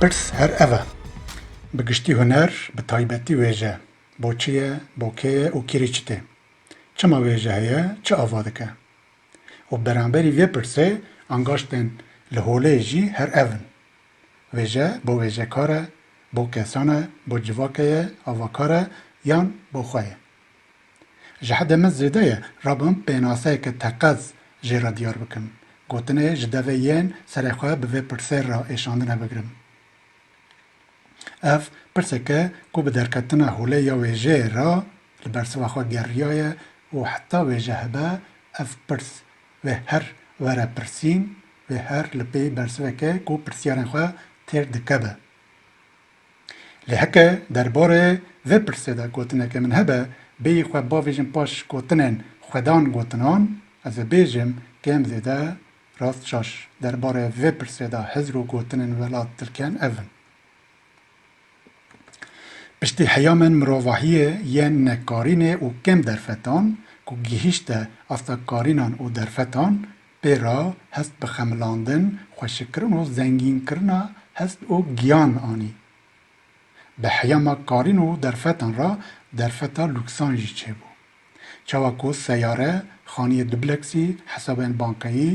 Pirs her ev e, bi giştî huner, bi taybetî wêje bo çi ye, bo kê ye û kîrî çi tê? Çima wêje heye, çi ava dike? Û beramberî vê pirsê angaştên li holê jî her ev in. Wêje bo wêjekar e, bo kesan e, bo civake ye, avakar e yan bo xwe ye? Ji hede min zêde ye rabim pênaseyeke teqez jê re diyar bikim, gotinê ji devê yên serê xwe bi vê pirsê re êşandine bigirim. Ev pirseke ku bi derketina holê ya wêjeyê re li bersiva xwe geriyaye û heta wêje hebe ev pirs wê her were pirsîn, wê her li pêy bersiveke ku pirsiyarên xwe têr dike be. Lê heke derbarê vê pirsê de gotinekê min hebe, bêyî xwe bavêjim paş gotinên xwedan gotinan, ez ê bêjim kêm zêde rast şaş derbarê vê pirsê de hizr û gotinên welat dilkên ev in. Piştî heyamên mirovahiyê yên nekarînê û kêm derfetan ku gihîşte asta karînan û derfetan, Pê re hest bi xemilandin, xweşikkirin û zengînkirina hest û giyan anî. Bi heyama karîn û derfetan re derfeta lûksan jî çêbû. Çawa ku seyare, xaniyê dubleksî, hesabên bankayî,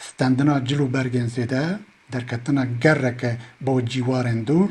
stendina cil û bergên zêde, derketina gerreke bo cîwarên dûr,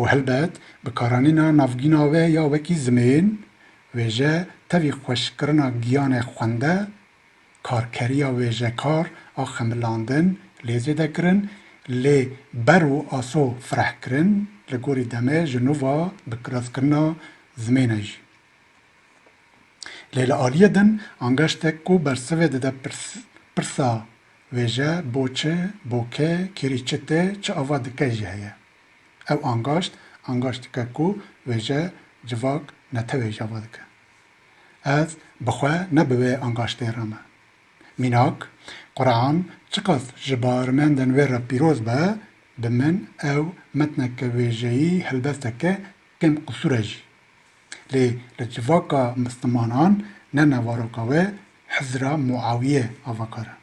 Û helbet bikaranîna navgîna wê ya wekî zimên, wêje tevî xweşkirina giyanê xwende, karkeriya wêjekar a xemilandin lê zêde kirin, lê ber û aso firehkirin li gorî demê ji nû va bi kirazkirina zimêne jî. Lê li aliyê din anga ştek ku bersivê dide pirsa wêje bo çi, bo kê, kêrî çi tê, çi ava dike jî heye. Ew angaşt, angaştike ku wêje civak netewêj ava dike. Ez bi xwe ne bi wê angaştê re me. Mînak, Quran çiqas ji bawermendên wê re pîroz be, bi min ew metneke wêjeyî helbesteke kêm qisûr e jî. Lê li civaka mislimanan ne nevaroka we Hizra Muawiye avakar e.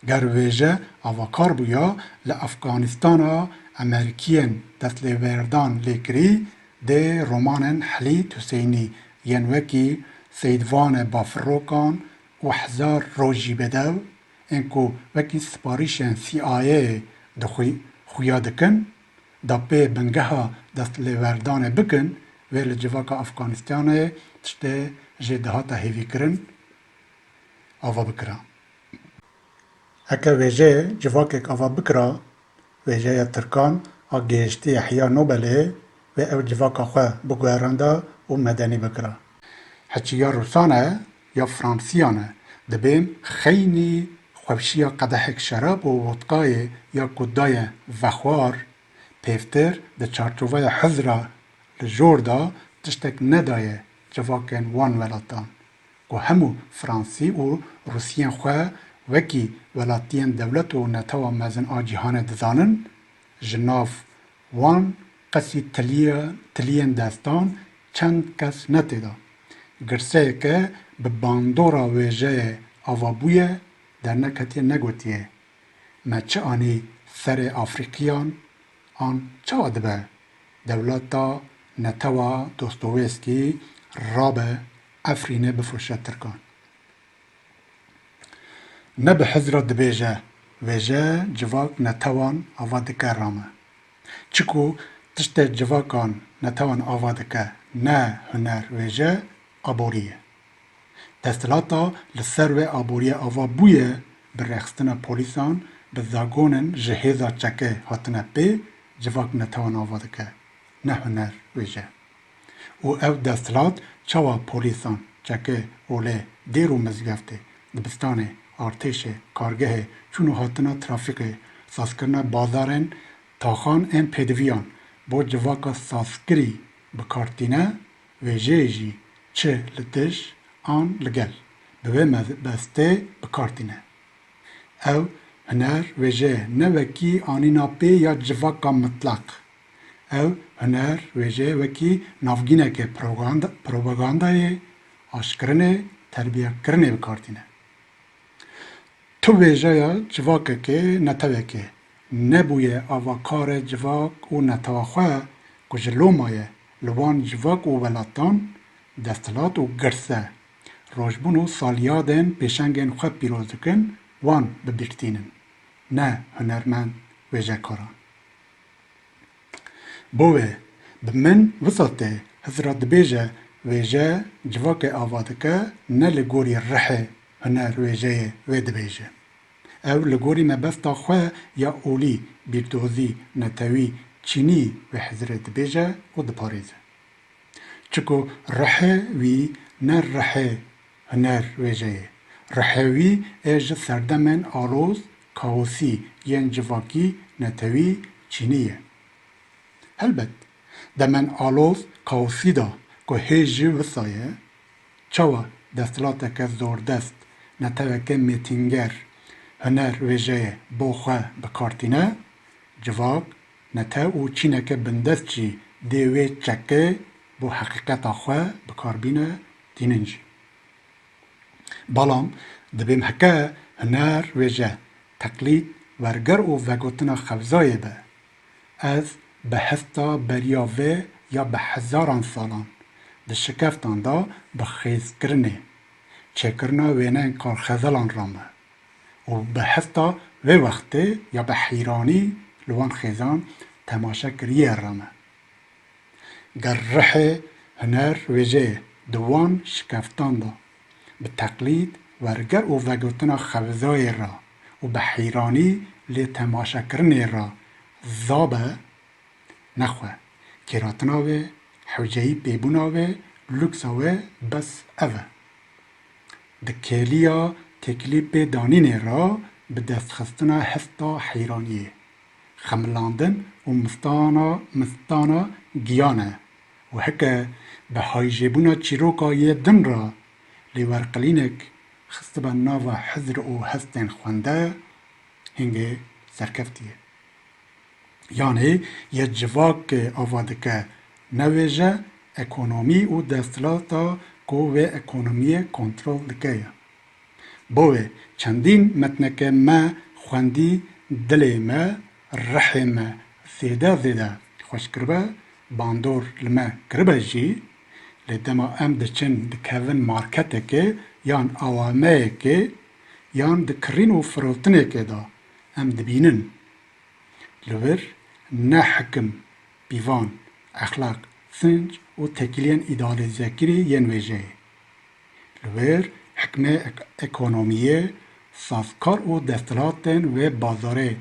Ger wêje avakar bûya li Efganîstana Emerîkiyên destlêwerdan lê kirî dê romanên Helît Huseynî yên wekî Seyîd Vane Bafirokan û Hezar Rojî Bedew ên ku wekî siparîşên CIAyê di xwe xuya dikin, da pê bingeha destlêwerdanê bikin wê li civaka Efxanistanayê tiştê jê dihata hêvîkirin ava bikira. Heke wê jê civakek ava bikira, wêjeya Tirkan a gihiştiye Hiya Nobelê wê ew civaka xwe biguheranda û medenî bikira. Hiçiya Rûsan e Ya Fransiya ne, dibêm xeynî xwevşiya qedehek şerab û wotqayê ya ku daye vexwar, pêvtir di çarçoveya hizra li jor da tiştek nedaye civakên wan welatan ku hemû fransî û rûsiyên xwe wekî welatiyên dewlet û netewa mezin a cîhanê dizanin, ji nav Wan qesî tiliyên destan çend kes ne tê da. Girseyeke bi bandora wêjeyê ava bûye derneketiye negotiye me çi anî serê Afrîqiyan an çawa dibe dewleta netewa Dostowêskî rabe Efrînê bifurşe Tirkan. Ne bi hez re dibêje, vêje civak netewan ava dike ra me. Çiku tiştê civakan netewan ava dike ne huner vêje, aborî ye. Desthilata li ser wê aboriyê ava bûye bi rêxistina polîsan bi zagonên ji hêza çekê hatine pê civak netewan ava dike ne huner vêje. û ev desthilat çawa polîsan, çeke, olê, dêr û mizgeftê, dibistanê, artêşê, kargehê, çûn û hatina trafîkê, sazkirina bazarên, taxan ên pêdiviyan bo civaka sazkirî bi kar tîne, wê jê jî çi li tij an li gel bi vê mebestê bi kar tîne. Ew huner wê jê ne wekî anîna pê ya civaka mitlaq, Ew huner wêjeyê wekî navgîneke propagandayê, aşkirinê, terbiyekirinê bi kar tîne. Tu wêjeya civakekê, netewekê nebûye ava kare civak û netewa xwe ku ji loma ye li wan civak û welatan, desthilat û girse, rojbûn û saliyadên pêşengên xwe pîroz dikin, wan bi bîr tînin. Ne hunermend wêjekaran. Bo wê bi min wisa tê, Hizra dibêje wêje civakê ava dike ne li gorî rihê huner wêjeyê wê dibêje. Ew li gorî mebesta xwe ya olî, bîrdozî, netewî, çînî wê Hizrê dibêje û diparêze. Çiku rihê wî ne rihê Huner wêjeyê rihewî ê ji serdemên aloz, kaosî yên civakî, netewî, çînî ye. Helbet demên aloz, kaosî da ku hê jî wisa ye, çawa desthilateke zordest, neteweke mêtînger huner wêjeyê bo xwe bi kar tîne, civak, netew û çîneke bindest jî dê wê çekê bo heqîqeta xwe bi kar bîne Tînin jî. Balam dibê heke huner wêje, teqlîd, werger û vegotina xewzayê be. Ez bi hesta beriya vê ya bi hezaran salan, di şikeftan de bi xêzkirinê, çêkirina wêneyên karxezelan re me û bi hesta vê wextê ya bi heyranî li wan xêzan temaşe kiriye re me. Ger rihê huner wêjeyê di wan şikeftan de bi teqlîd, werger û vegotina xevizayê re û bi heyranî lê temaşekirinê re za be, nexwe kêratina wê, hewceyî pêbûna wê, luksa wê bes ev e. Di kêliya têkilî pê danînê re bi destxistina hesta heyraniyê. Xemilandin û mistana mistana giyan e û heke bi hayjêbûna çîroka yê din re lêwerqilînek xistibe nava hizr û hestên xwende, hingê serkeftî ye. Yanê yê civak ke ava dike newêje ekonomî û desthilata ku wê ekonomîyê kontrol dike ye. Bo wê çendîn metneke me xwendî dilê me, rihê me zêde zêde xweş kiribe, bandor li me kiribe jî, lê dema em diçin dikevin marketekê yan awameyekê yan di kirîn û firotinekê de em dibînin li wir ne hikim, pîvan, exlaq, sinc û tekîliyên îdealîzekirî yên wêjeyê. Li wir hikmê ekonomiyê, sazkar û desthilatên wê bazarê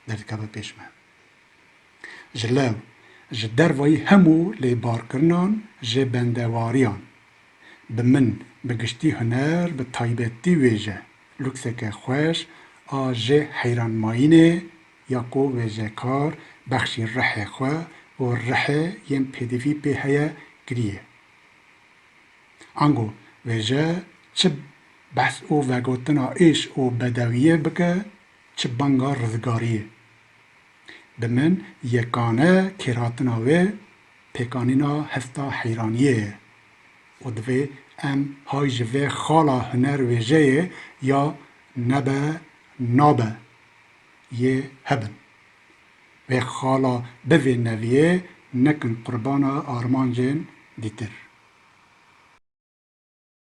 derdikeve pêş me. Ji lew, ji dervayî hemû lêbarkirinan jê bendewariyan, bi min bi giştî huner bi taybetî wêje, lukseke xweş a jê heyranmayînê ya ku wêjekar bexşî rihê xwe û rihê yên pêdivî pê heye, kirî ye. Ango vêje çi behs û vegotina êş û bedewiyê bike çi banga rizgariyê. Bi min yekane kêrhatina wê pêkanîna hesta heyraniyê ye û divê em hay ji vê xala huner wêjeyê ya nebe nabe yê hebin. Wê xala bi vê neviyê nekin qurbana armancên dîtir.